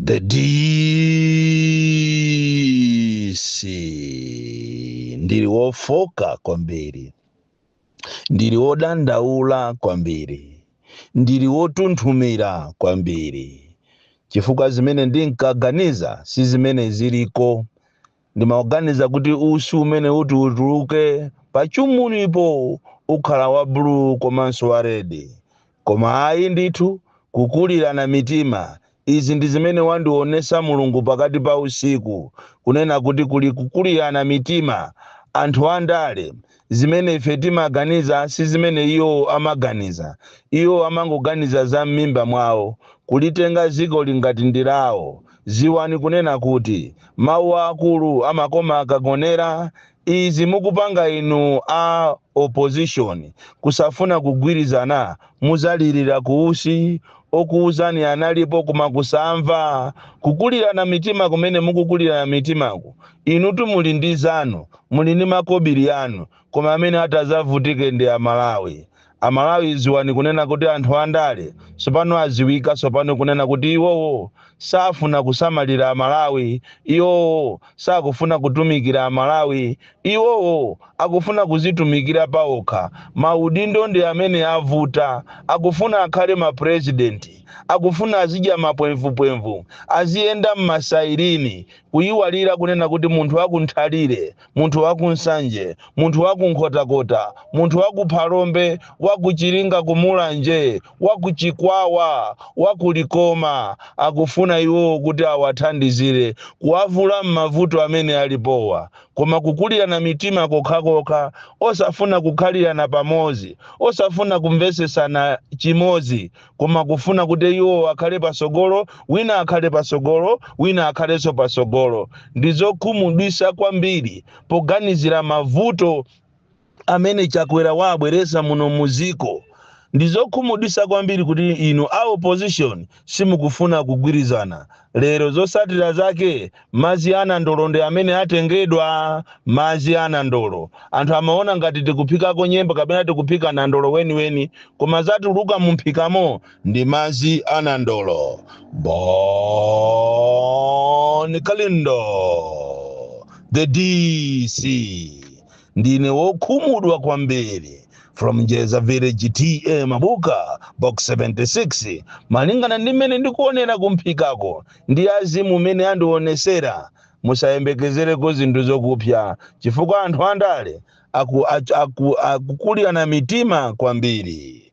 The DC ndili wofoka kwambiri, ndili wodandaula kwambiri, ndili wotunthumira kwambiri, chifukwa zimene ndinkaganiza si zimene ziliko. Ndimaganiza kuti usi umene uti utuluke pachumunipo ukhale wa blue komanso wa red. Koma ayi ndithu kukulirana mitima izi ndi zimene wandionesa Mulungu pakati pa usiku kunena kuti kuli kukulirana mitima anthu andale Zimene ife timaganiza si zimene iwo amaganiza. Iwo amangoganiza za mmimba mwawo, kulitenga dzikoli ngati ndi lawo. Dziwani kunena kuti, mawu a akulu amakoma akagonera. Izi mukupanga inu a opposition kusafuna kugwirizana mudzalirira ku usi. Okuuzani analipo koma kusamva. Kukulirana mitima kumene mukukulirana mitimaku Inutu muli ndi zanu, muli ndi makobili anu, koma amene atazavutike ndi a Malawi. A Malawi ziwani kunena kuti anthu andale sopano aziwika sopano kunena kuti iwowo safuna kusamalira a Malawi, iwowo sakufuna kutumikira a Malawi, iwowo akufuna kuzitumikira pa okha, maudindo ndi amene avuta, akufuna akhale ma president, akufuna azidya ma pwemvupwemvu, aziyenda m'masairini. Kuyiwalira kunena kuti munthu wa ku Nthalire, munthu wa ku Nsanje, munthu wa ku Nkhotakota, munthu wa ku Phalombe, wa ku Chiringa ku Mulanje, wa ku Chikwawa, wa ku Likoma akufuna iwowo kuti awathandizire kuwavula m'mavuto amene alipowa. Koma kukulirana mitima kokhakokha, osafuna kukhalirana pamodzi, osafuna kumvetsetsana chimodzi koma kufuna kuti iwo akhale patsogolo wina akhale patsogolo wina akhalenso patsogolo ndi zokhumudwisa kwambiri poganizira mavuto amene Chakwera wawabweresa muno muziko ndizokhumudwisa kwambiri kuti inu a opposition simukufuna kugwirizana lero zosatira zake Madzi a nandolo ndi amene atengedwa. Madzi a nandolo anthu amaona ngati tikuphikako nyemba kapena tikuphika nandolo weniweni koma zatuluka mumphikamo ndi madzi a nandolo. Bon Kalindo, the DC, ndine wokhumudwa kwambiri from Njeza Village TA Mabuka Box 76 malingana ndi mmene ndikuonera kumphikako ndi azimu mmene andionesera musayembekezereko zinthu zokupya chifukwa anthu andale aku, aku, akukulirana mitima kwambiri